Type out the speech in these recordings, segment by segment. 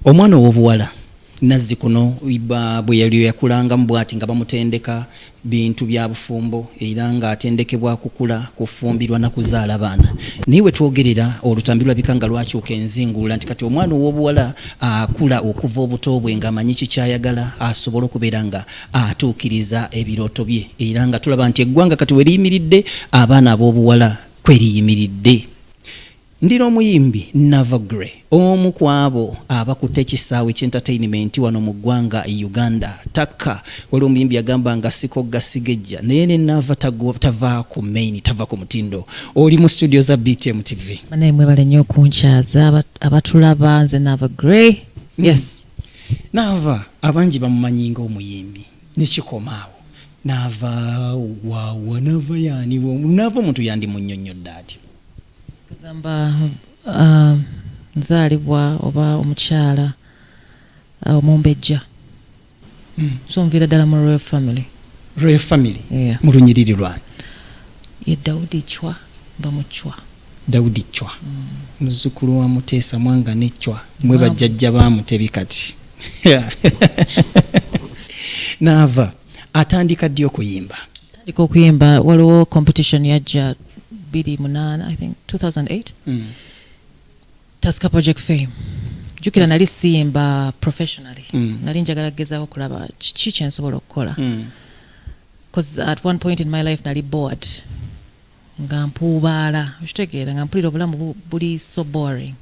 Omwana ow'obuwala Nazzikuno bwe yakulangamu bwati nga bamutendeka bintu bya bufumbo era ng'atendekebwa kukula, kufumbirwa na kuzaala baana. Naye we twogerera olutambi lulabika nga lwakyuka enzinguula nti kati omwana ow'obuwala akula okuva obuto bwe ng'amanyi ki ky'ayagala asobole okubeera nga atuukiriza ebirooto bye era nga tulaba nti eggwanga kati we liyimiridde abaana ab'obuwala kwe liyimiridde. Ndi n'omuyimbi Nava Grey omu ku abo abakutte ekisaawe ky'entertainment wano mu ggwanga Uganda. Takka, waliwo omuyimbi yagamba nga sikogga sigejja naye ne Nava tava ku main, tava ku mutindo. Oli mu studio za BTM TV. Banaye mwebale nnyo okunkyaza abatulaba nze Nava Grey. Hmm. Yes. Nava abangi bamumanyi nga omuyimbi nekikoma awo Nava wawa Nava yani Nava omuntu yandimunyonnyodde atya? kagamba uh, nzaalibwa oba omukyala uh, omumbejja mm. so nviira ddala mu royal family royal family yeah. mu lunyiriri lwange ye dawudi cwa mba mu cwa dawudi cwa mm. muzzukulu wa muteesa mwanga ne cwa mwe bajjajja ba mutebi kati naava atandika ddi okuyimba atandika okuyimba waliwo competition yajja 28 i think 2008 mm. taska project fame jukira nali siyimba professionally mm. nali njagala kugezaako okulaba kiki kyensobola okukola mm. bcause at one point in my life nali board nga mpuubaala okitegeera nga mpulira obulamu buli so boring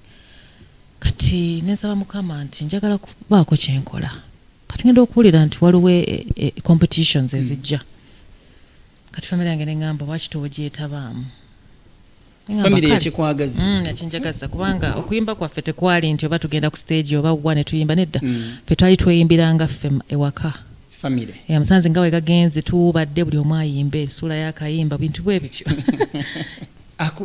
kati nensaba mukama nti njagala kubaako kyenkola kati ngenda okuwulira nti waliwo e, e, e, competitions ezijja hmm. kati famire yange neŋamba lwaki tewogyetabaamu ekinjagaza hmm, kubanga okuyimba kwaffe tekwali nti oba tugenda ku stage oba wa netuyimba nedda hmm. fe twali tweyimbiranga ffe ewaka musanze nga wegagenze tuwubadde buli omu ayimba esuula yakayimba bintu bwebityo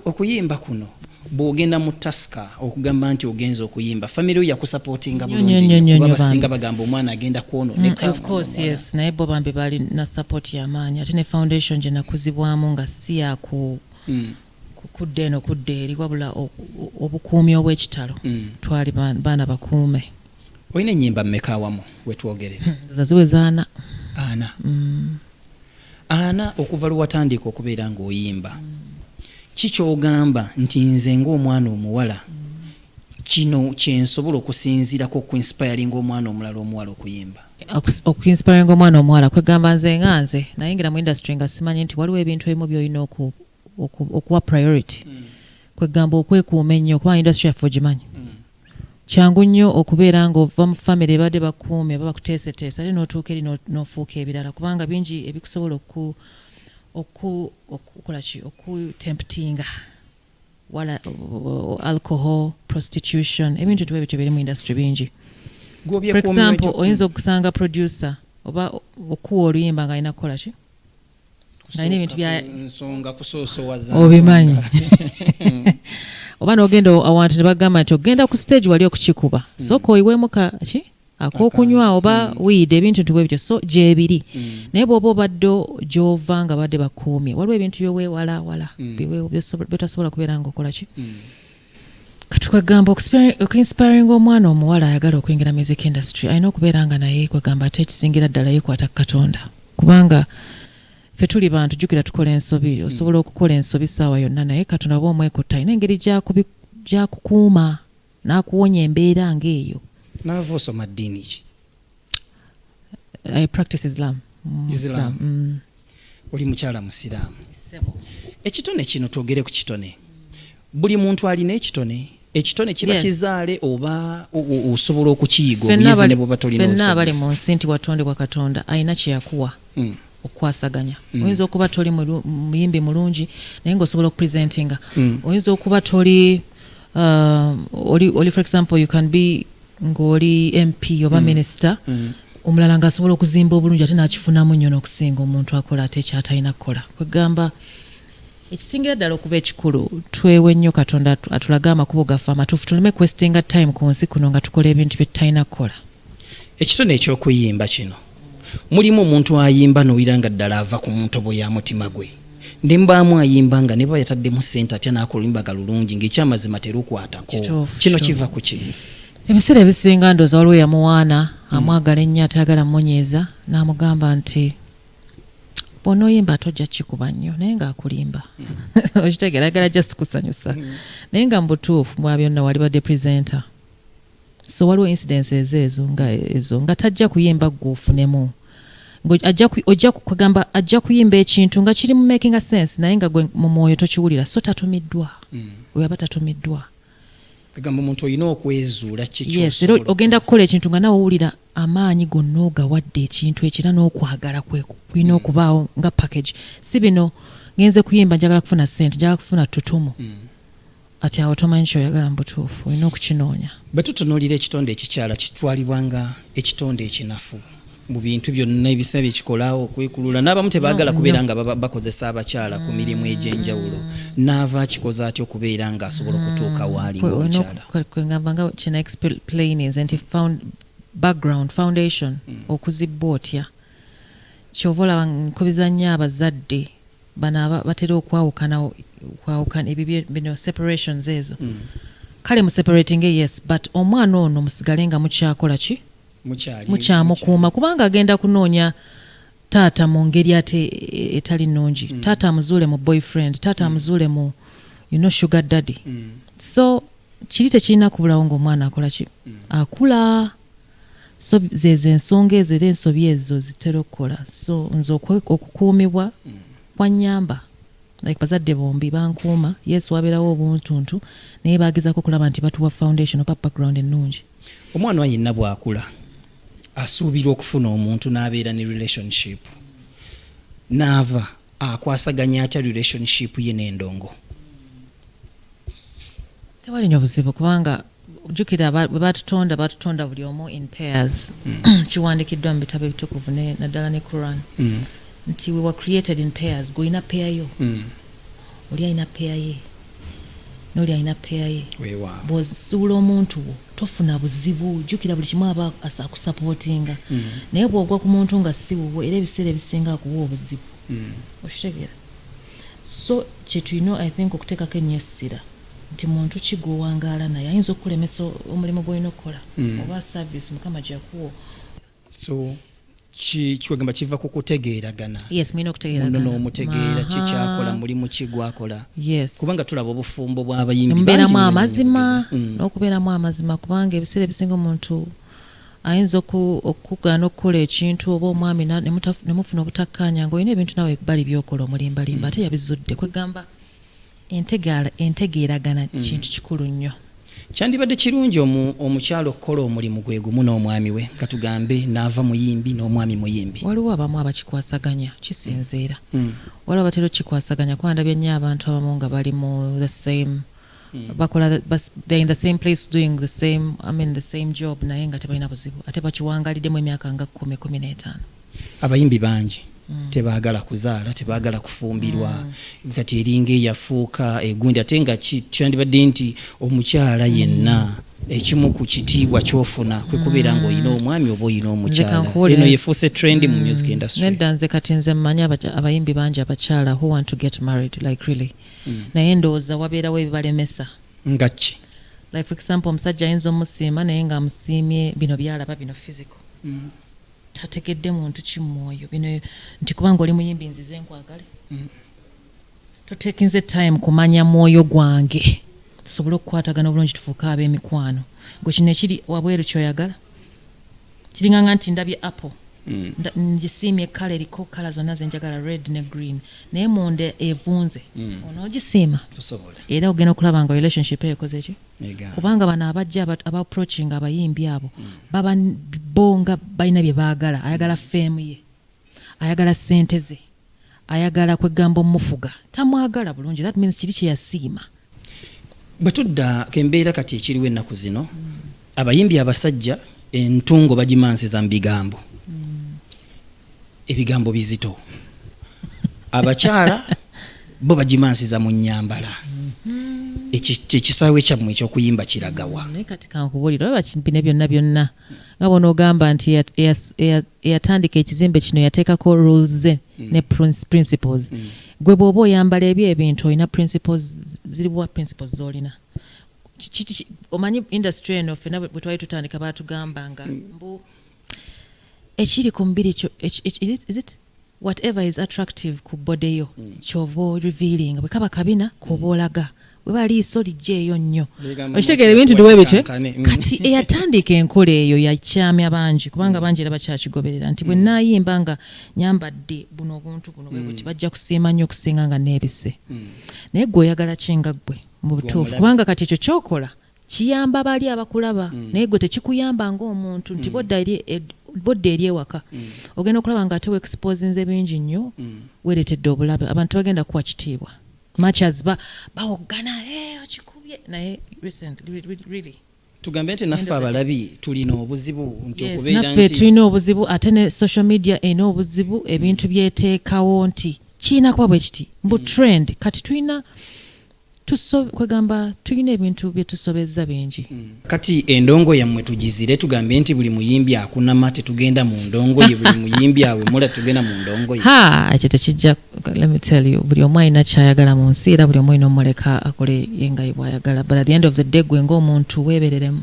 Okuyimba kuno bwogenda mu taska okugamba nti ogenza okuyimba famire yo yakusapotinga bulungiba basinga bagamba omwana agenda kwononekaofcoursenaye mm, bo bambi bali na sapoti yamaanyi ate ne foundation gye nakuzibwamu nga si yaku mm. kudda eno kudda eri wabula obukuumi obwekitalo mm. twali baana bakuume olina enyimba mumeka awamu wetwogerera zaziwe zaana ana Ana okuva lwewatandiika okubeera nga oyimba ki kyogamba nti nze nga omwana omuwala kino kyensobola okusinziirako okuinspiringa omwana omulala omuwala okuyimba okuinspiringa omwana omuwala kwegamba nze nga nze nayingira mu industry nga simanyi nti waliwo ebintu ebimu byolina oku okuwa priority mm. kwegamba okwekuuma ennyo kubanga industry yaffe ogimanyi mm. kyangu nnyo okubeera nga ova mu famire ebadde bakuumi oba bakuteeseteesa ate notuuka eri nofuuka ebirala kubanga bingi ebikusobola okukola ki okutemputinga wala alcohol prostitution ebintu tuba ebityo biri mu industry bingi for example oyinza okusanga producer oba okuwa oluyimba nga alina kukola ki alina ebintu byensonga kusoosowaza obimanyi oba nogenda awantu ne bagamba nti ogenda ku stage wali okukikuba mm. soka oyiwemuka ki akokunywa oba mm. wiida ebintu nti bwebityo so gyebiri mm. naye bwoba obadde gyova nga badde bakuumye waliwo ebintu byowewalawala byotasobola kubeera nga okola ki kati kwegamba okuinspiringa omwana omuwala ayagala okuyingira music industry alina okubeera nga naye kwegamba ate ekisingira ddala yekwata ku katonda kubanga fe tuli bantu jukira tukola ensobi hmm. osobola okukola ensobi saawa yonna naye katonda oba omwekutta alina engeri gyakukuuma n'akuwonya embeera ngaeyo naava osoma ddiini ki I practice Islam. Mm, Islam. Mm. Oli mukyala musiraamu. Ekitone kino twogere ku kitone. Buli muntu alina ekitone. Ekitone kiba yes. kizaale oba osobola okukiyiga obuyizi ne bw'oba tolina obusobozi. Fenna abali mu nsi nti watondebwa Katonda alina kye yakuwa. Mm. okukwasaganya mm. oyinza okuba toli muyimbi mulungi naye nga osobola okupresentinga mm. oyinza okuba toli uh, oli, oli for example you can be ng'oli mp oba mm. minister mm. omulala ngaasobola okuzimba obulungi ate nakifunamu nnyo n'okusinga omuntu akola ate ekyatalina kukola kwegamba ekisingira ddala okuba ekikulu twewe nnyo katonda atulage amakubo gaffe amatuufu tuleme kwestinga time ku nsi kuno nga tukola ebintu bye tutalina kukola Ekitone eky'okuyimba kino mulimu omuntu ayimba nowira nga ddala ava ku ntobo ya mutima gwe nembaamu ayimba nga neba yataddemu sente atya nakulimbaga lulungi ngaekyamazima terukwatako kino kiva ku ki ebiseera ebisinga ndooza waliwo yamuwaana hmm. amwagala ennyo atayagala mumunyiiza namugamba nti bwona oyimba ate ojja kikuba nnyo naye ngaakulimba hmm. okitegeera agala just kusanyusa hmm. naye nga mubutuufu mwabyonna walibadde presenter so waliwo incidence ezo ezo nga ezo nga tajja kuyimba gwe ofunemu ojja kugamba ajja kuyimba ekintu nga kiri mu making a sense naye nga gwe mu mwoyo tokiwulira so tatumiddwa mm. weyaba tatumiddwa gamba omuntu olina okwezuula kiera ogenda kukola ekintu nga nawe owulira amaanyi gonna ogawadde ekintu ekira n'okwagala kulina mm. okubaawo nga package si bino ngenze kuyimba njagala kufuna sente njagala kufuna tutumu mm. Kati awo tomanyi kyoyagala mu butuufu, olina okukinoonya. Bwe tutunuulira ekitonde ekikyala, kitwalibwa nga ekitonde ekinafu mu bintu byonna ebisa bye kikola, okwekulula. N'abamu tebaagala kubeera nga bakozesa abakyala ku mirimu egy'enjawulo. Naava akikoze atya okubeera ng'asobola okutuuka waali ng'omukyala? Kwe ngamba nga kino explaininze nti background foundation hmm. okuzibbwa otya kyova olaba nkubiza nnyo abazadde bano aba batera okwawukana okwawukana ebyo bye- bino separations ezo Mm. kale museparatinge yes but omwana ono musigale nga mukyakola ki mukyali mukyamukuuma kubanga agenda kunoonya taata mu ngeri ate e- etali nnungi Mm. taata amuzuule mu boyfriend taata amuzuule mu you know sugar daddy Mm. so kiri tekirina kubulawo ng'omwana akola ki akula so zezo ensonga ezo era ensobi ezo zitera okukola so nze okukuumibwa mm. kwanyamba like bazadde bombi bankuuma yes wabeerawo obuntuntu naye bagezako okulaba nti batuwa foundation oba background ennungi omwana wa yenna bwakula asuubirwa okufuna omuntu n'abeera ne relationship naava Akwasaganya atya relationship ye ne ndongo? Tewali nyo buzibu kubanga jukira batutonda batutonda buli omu in pairs mm. kiwandikiddwa mu bitabo ebitukuvu naddala ne quran mm. nti we were created in pairs gweolina peya yo mm. oli alina peya ye noli alina peya ye bwozuula omuntu wo tofuna buzibu jukira buli kimu aba akusapotinga mm. naye bwogwa ku muntu nga si wuwo era ebiseera ebisinga akuwa obuzibu mm. okitegera so kyetulina i think okuteekako ennyo essira nti muntu ki gwowangaala naye ayinza okukulemesa omulimu gwolina okukola mm. oba service mukama gyakuwa so kiwegamba kiva ku kutegeeragana n'omutegeera ki kyakola mulimu ki gwakola kubanga tulaba obufumbo bw'abayimbimubeeramu amazima mm. n'okubeeramu amazima kubanga ebiseera ebisinga omuntu ayinza okugaana okukola ekintu oba omwami nemufuna obutakkaanya nga olina ebintu nawe bali byokola omulimbalimba mm. ate yabizudde kwegamba Entegaala, entegeeragana mm. kintu kikulu nnyo. Kyandibadde kirungi omukyala okukola omulimu gwe gumu n'omwami we nga tugambe n'ava muyimbi n'omwami muyimbi. Waliwo abamu abakikwasaganya kisinziira. Mm. Mm. Waliwo abatera okukikwasaganya kuba ndabye nnyo abantu abamu nga bali mu the same Mm. bakola they're in the same place doing the same I mean the same job naye nga tebalina buzibu ate bakiwangalidemu emyaka nga kumi kumi n'etaano abayimbi bangi mm. tebagala kuzaala tebagala kufumbirwa mm. kati eringa eyafuuka egundi ate nga kyandibadde nti omukyala yenna mm. ekimu ku kitiibwa kyofuna kwe kubeera mm. ng'olina omwami oba olina omukyalaeno yefuuse trend mu mm. music industry nedda nze kati nze mmanyi abayimbi bangi abakyala who want to get married like really mm. naye ndowooza wabeerawo ebibalemesa nga ki like for example omusajja ayinza omusiima naye ng'amusiimye bino byalaba bino physical Tategedde muntu ki mwoyo bino nti kubanga oli muyimbi nzize nkwagale mm. totekinze time kumanya mwoyo gwange tusobole okukwatagana obulungi tufuuke ab'emikwano gwe kino ekiri wabweru kyoyagala kiringanga nti ndabye apple mm. ngisiimye kala eriko kala zonna zenjagala red ne green naye munda evunze mm. onoogisiima era ogenda okulaba nga relationship eyo ekozeki kubanga bano abajja aba approaching abayimbi abo baba bonga balina bye baagala ayagala feemu ye ayagala sente ze ayagala kwegamba omufuga tamwagala bulungi that means kiri kyeyasiima bwe tudda kembeera kati ekiriwo ennaku zino abayimbi abasajja entungo bagimansiza mu bigambo ebigambo bizito abakyala bo bagimansiza mu nyambala mm-hmm. ekisaawe kyammwe ekyokuyimba kiragawa naye kati kankubulira oba bino byonna byonna nga bona ogamba nti eyatandika ekizimbe kino yateekako rules ze mm. ne principles mm. gwe bwoba oyambala ebyo ebintu olina principles ziriwa principles zolina omanyi industry eno fena bwetwali tutandika batugamba nga mm. mbu ekiri ku mubiri kyo is it whatever is attractive ku body yo mm. kyova orivealing bwe kaba kabina mm. koba olaga weba liiso lijja eyo nnyo okitegeera ebintu duwe bitwe mm. kati eyatandika enkola eyo yakyamya bangi kubanga mm. bangi era bakyakigoberera nti bwe naayimba nga nyambadde buno obuntu buno bwe buti bajja kusiima nnyo okusinga nga neebise naye gwe oyagala kinga ggwe mu butuufu kubanga kati ekyo kyokola Kiyamba bali abakulaba mm. naye gwe tekikuyamba ng'omuntu nti mm. bodda eri ed, bodda eri ewaka mm. ogenda okulaba nga ate weexposinze bingi nnyo mm. weeretedde obulabe abantu bagenda kuwa kitiibwa matches ba bawoggana hey, eh, okikubye naye recently really tugambe nti naffe abalabi tulina obuzibu nti yes, naffe tulina obuzibu ate ne social media ena obuzibu ebintu mm. byeteekawo nti kirina kuba bwe kiti mbu mm. trend kati tulina Tuso, kwegamba tulina ebintu byetusobezza bingi. Kati endongo yamwe tugizire tugambe nti buli muyimbi akunama tetugenda mu ndongoye buli muyimbi awemula tetugenda mu ndongoye ha ekyo tekijja let me tell you buli omu alina kyayagala mu nsi era buli omu alina omuleka akole yengayi bwayagala but at the end of the day gwe ng'omuntu weebereremu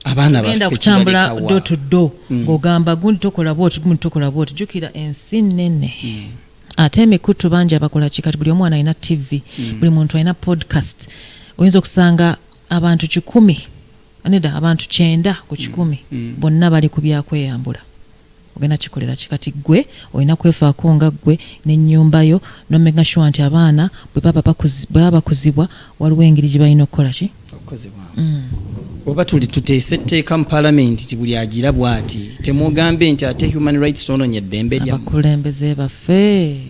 abaana genda kutambula do to do hmm. ng'ogamba gundi tokola bwoti gundi tokola bwoti jukira ensi nene mm. ate emikutu bangi abakola ki kati buli omu alina tv mm. buli muntu alina podcast oyinza okusanga abantu kikumi neda abantu kyenda ku kikumi mm. mm. bonna bali ku byakweyambula ogenda kikolera ki kati gwe olina kwefaako nga gwe nenyumba yo nomega sure nti abaana bwebaba bakuzibwa waliwo engeri gye balina okukola ki mm. oba tuli tuteese etteeka mu palamenti ti buli agira bwati temwogambe nti ate human rights tononya eddembe lyabakulembeze baffe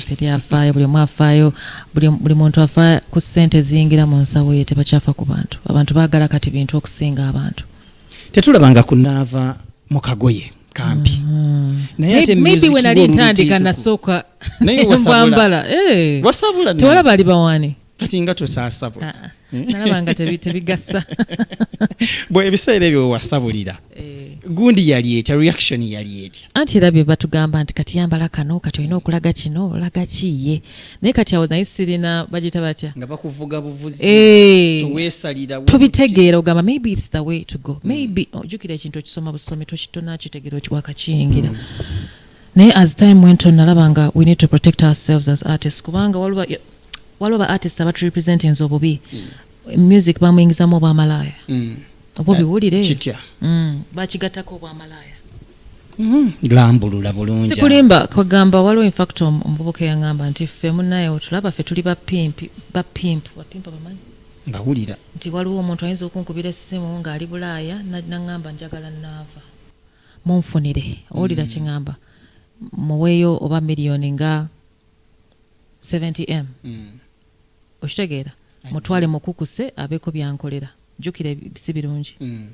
teri afaayo buli omu afaayo buli muntu afa ku ssente eziyingira mu nsawo ye tebakyafa ku bantu abantu baagala kati bintu okusinga abantu tetulabanga kunaava mu kagoye kampi mm-hmm. nayemaybe wenali ntandika nasooka mbwambala eh. tewala bali bawani kati nga tosasabula ah, ah. eh? nalaba nga tebigasa bwe ebiseera ebyo wewasabulira eh. gundi yali etya reaction yali etya anti era bye batugamba nti kati yambala kano kati olina okulaga kino olaga kiye naye kati awo naye sirina bagiyita batya nga bakuvuga buvuzi eh. towesalira tobitegeera ogamba maybe its the way to go maybe ojukira ekintu okisoma busomi tokitona kitegeera okiwakakiyingira mm. Naye as time went on nalaba nga we need to protect ourselves as artists kubanga waliwo waliwo ba artists abatu representinze obubi mm. music bamuyingizamu obwamalaaya mm. obwo biwulire kitya mm. bakigattako obwamalaaya mm-hmm. lambulula bulungi sikulimba kwegamba waliwo infact omuvubuka eyangamba nti ffe munaye otulaba ffe tuli bapimpi bapimpu bapimpu bamanyi mbawulira nti waliwo omuntu ayinza okunkubira essimu ng'ali bulaaya naŋŋamba njagala naava Munfunire, owulira mm. kyeŋŋamba, muweeyo oba miliyoni nga 70m. Mm. Okitegeera? Mutwale mukukuse abeeko byankolera. Jjukira si birungi. Mm.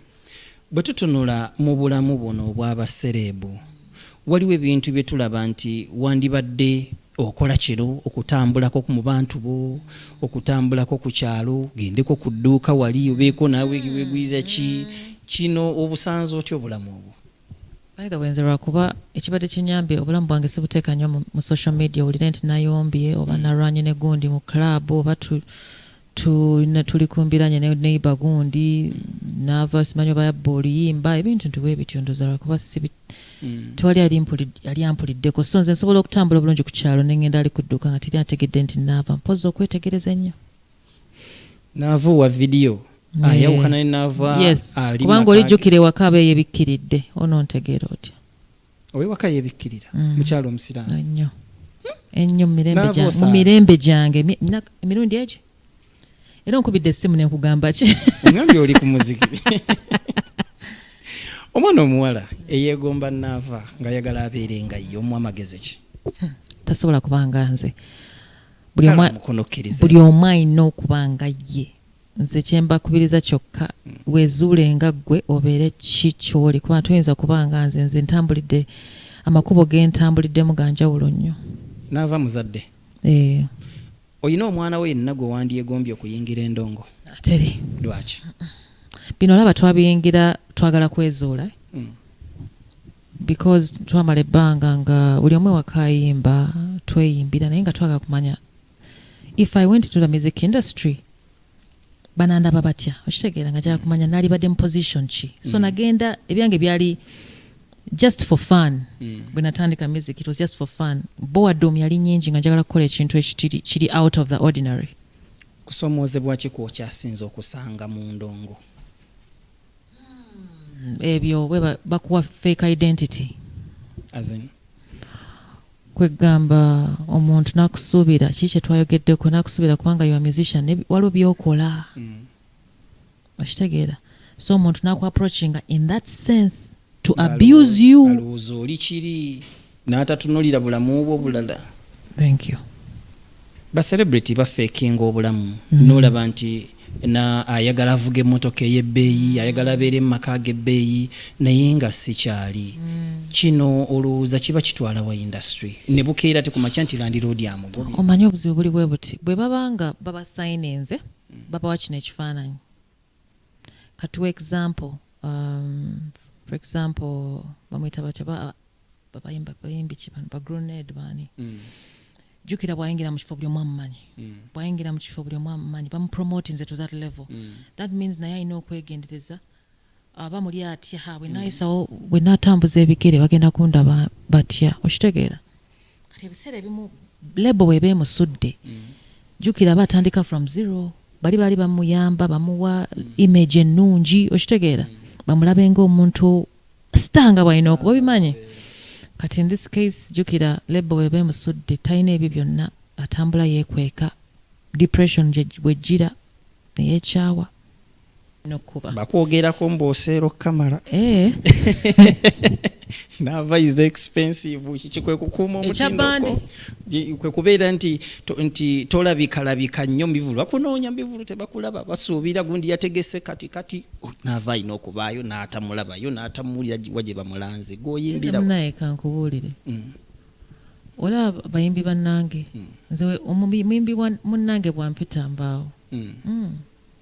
Bwe tutunula mu bulamu buno obw'abasereebu, waliwo ebintu bye tulaba nti wandibadde Okola kino okutambulako ku mu bantu bo, okutambulako ku kyalo, ogendeko ku dduuka wali obeeko naawe wegulira ki kino obusanze otya obulamu obwo? By the way nze lwakuba ekibadde kinyambye obulamu bwange sibuteeka nnyo mu social media owulire nti nayombye oba mm. nalwanye ne gundi mu club oba tulina tuli kumbiranye ne neighbor gundi nava simanyi oba yabba oluyimba ebintu nti bwebityo ndoza lwakuba sibi mm. tewali yali ampuliddeko so nze nsobola okutambula obulungi ku kyalo nengenda ali kudduka nga teri ategedde nti naava mpozi okwetegereza ennyo naava owa vidiyo ayawukana ne naava kubanga olijjukira ewaka aba eyebikkiridde onontegeera otya owewaka yebikkirira mm. mukyalo omusiraamu ennyo ennyo mu mirembe gyange emirundi egyo era onkubidde essimu nenkugamba ki ngambye oli ku muziki omwana omuwala eyegomba naava ng'ayagala abeere nga ye omu amagezi ki hmm, tasobola kubanga nze buli omu alina okuba nga ye nze kyembakubiriza kyokka wezuule nga ggwe obeere ki kyoli kuba toyinza kuba nga nze nze ntambulidde amakubo gentambuliddemu ganjawulo nnyo naava muzadde eh. olina omwana we yenna gwe wandyegombye okuyingira endongo ateri lwaki bino olaba twabiyingira twagala kwezuula hmm. because twamala ebbanga nga buli omu ewakayimba tweyimbira naye nga twagala kumanya if i went to the music industry banandaba batya okitegeera nga kyakumanya nalibadde mu position ki so mm. nagenda ebyange byali just for fun mm. bwe natandika music it was just for fun boadom yali nyingi nga njagala kukola ekintu ekitiri kiri out of the ordinary kusomoozebwa ki kwokyasinza okusanga mu ndongo ebyo bwe bakuwa fake identity kwegamba omuntu nakusuubira ki kyetwayogeddeko nakusuubira kubanga yo musician waliwo byokola mm. okitegeera so omuntu naku approachinga in that sense to abuse you N'atatunulira bulamu bwo bulala. Thank you. Ba celebrity bafeekinga obulamu mm. n'olaba nti na ayagala avuga emmotoka ey'ebbeeyi ayagala abeere mu maka ag'ebbeeyi naye nga sikyali mm. kino olowooza kiba kitwala wa industry ne bukeera te ku makya nti landiroodi amugobi omanyi obuzibu buli bwe buti bwe baba nga babasayininze mm. babawa kino ekifaananyi Katuwe example um, for example bamwita batya babayimba bayimbi ki bano ba grenade baani mm. jukira bwayingira mu kifo buli omu amumanyi mm. bwayingira mu kifo buli omu amumanyi bamupromotinze to that level mm. that means naye alina okwegendereza aba muli atya ha bwenayisawo bwenatambuza ebigere bagenda kundaba batya okitegeera kati ebiseera ebimu lebo weba emusudde mm. jukira aba atandika from zero bali baali bamuyamba bamuwa mm. image ennungi okitegeera mm. bamulabe ngaomuntu star nga bwalina okuba obimanyi kati in this case jukira lebo weba emusudde talina ebyo byonna atambula yekweka depression bwejjira neyekyawa nokuba bakwogerako mbu oseera okukamala eh. nava is expensive kiki kwekukuuma omutindo kwekubeera nti nti tolabikalabika nnyo mubivulu bakunoonya mubivulu tebakulaba basuubira gundi yategese kati kati oh, nava alina okubaayo n'atamulabayo n'atamuwulira wa gye bamulanze gwoyimbiramunaye kankubuulire mm. olaba bayimbi bannange mm. nze omuyimbi munange bwampita mbaawo mm.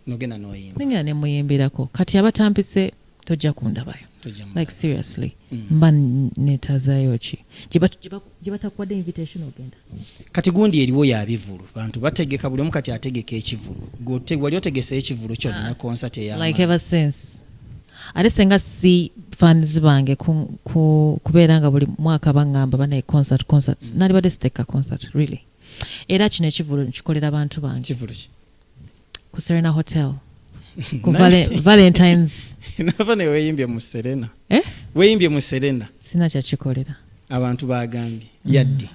nogenda noyimba nengera nemuyimbirako kati abatampise tojja kundabayo like seriously mm. mba netazayo ki gyebatakuwadde invitation ogenda kati gundi eriwo yabivulu bantu bategeka buli omu kati ategeka ekivulu wali otegeseyo ekivulu kyo nina ah, concert eyalike ever since ate senga si fans bange kubeera nga buli mwaka bangamba banaye concert concert mm. nalibadde siteka concert really era kino ekivulu nkikolera bantu bange ku serena hotel ku valentines nava ne weyimbye mu serena eh? weyimbye mu serena sina kyakikolera abantu bagambye mm. yaddi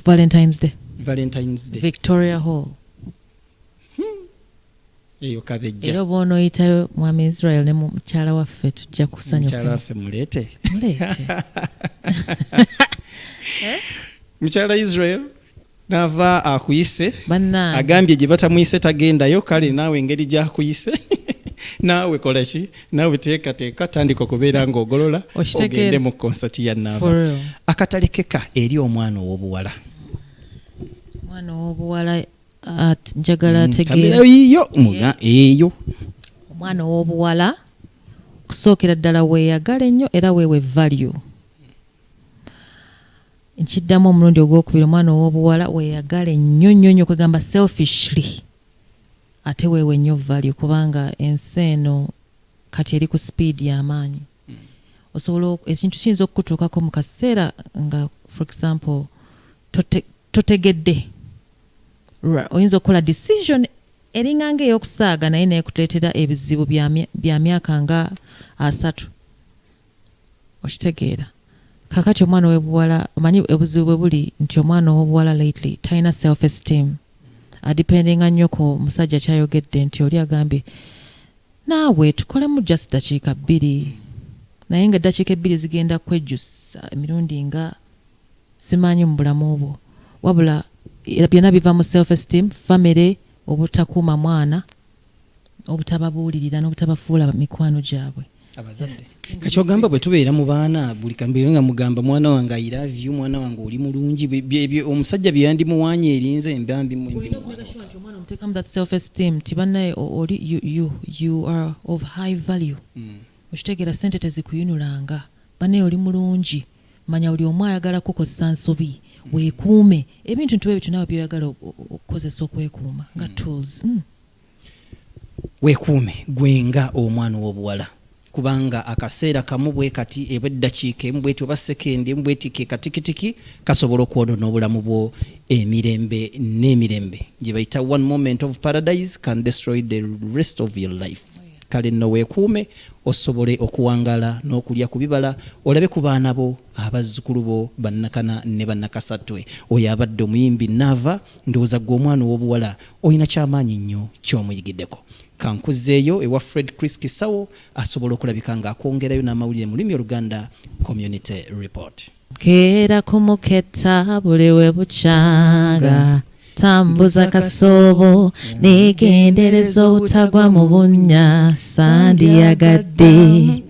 valentines day valentines day victoria hall hmm. eyo kabejja era obona oyitayo mwami israel ne mukyala waffe tujja kusanyukamukyala waffe muleete muleete eh? mukyala israel nava akuyise agambye gye batamuyise tagendayo kale naawe engeri gyakuyise naawe kola ki naawe teekateeka tandika okubeera ng'ogolola ogende mu konsati ya naava akatalekeka eri omwana ow'obuwala omwana ow'obuwala njagala mm, tegeerayiyo muga eyo omwana ow'obuwala kusookera ddala weeyagala ennyo era weewe value Nkiddamu omulundi ogwokubiri omwana ow'obuwala weyagale nnyo nnyo nnyo kwegamba selfishly ate weewe nnyo value kubanga ensi eno kati eri ku speed y'amaanyi hmm. osobola ekintu kiyinza okukutuukako mu kaseera nga for example totegedde oyinza okukola decision eringanga ey'okusaaga naye naye kutuleetera ebizibu bya myaka nga asatu okitegeera kakati omwana owebuwala omanyi obuzibu bwe buli nti omwana owobuwala lately talina self esteem adipendinga nnyo ku musajja kyayogedde nti oli agambye naawe tukolemu just dakiika bbiri naye nga eddakiika ebbiri zigenda kwejjusa emirundi nga simanyi mu bulamu bwo wabula byonna biva mu self esteem famire obutakuuma mwana obutababuulirira n'obutabafuula mikwano gyabwe abazadde kakyogamba bwe tubeera mu baana buli kambeera nga mugamba mwana wange i love you mwana wange oli mulungi omusajja bye yandimuwaanya erinze embambi mutekamu that self esteem nti bannaye oli you are of high value mm. okitegeera sente tezikuyinulanga bannaye oli mulungi manya buli omu ayagala kukozesa nsobi mm. weekuume ebintu ntiwe ebyo tunawe byoyagala okukozesa okwekuuma nga mm. tools mm. Weekuume ggwe nga omwana ow'obuwala kubanga akaseera kamu bwe kati eba eddakiika emu bw'eti oba ssekendi emu bw'eti ke katikitiki kasobola okwonoona obulamu bwo emirembe n'emirembe gye bayita one moment of paradise can destroy the rest of your life. Kale nno weekuume osobole okuwangaala n'okulya ku bibala olabe ku baana bo, abazzukulu bo, bannakana ne bannakasattwe. Oyo abadde omuyimbi Naava, ndowooza ggwe omwana ow'obuwala Olina ky'amaanyi nnyo ky'omuyigideko. Ka nkuzzeeyo ewa Fred Chris Kisawo asobola okulabika ng'akwongerayo n'amawulire mu lulimi oluganda, Community Report. Keera ku muketta buli we bukyanga, tambuza kasoobo neegendereza obutagwa mu bunnya, sandiyagadde.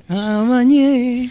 Amanye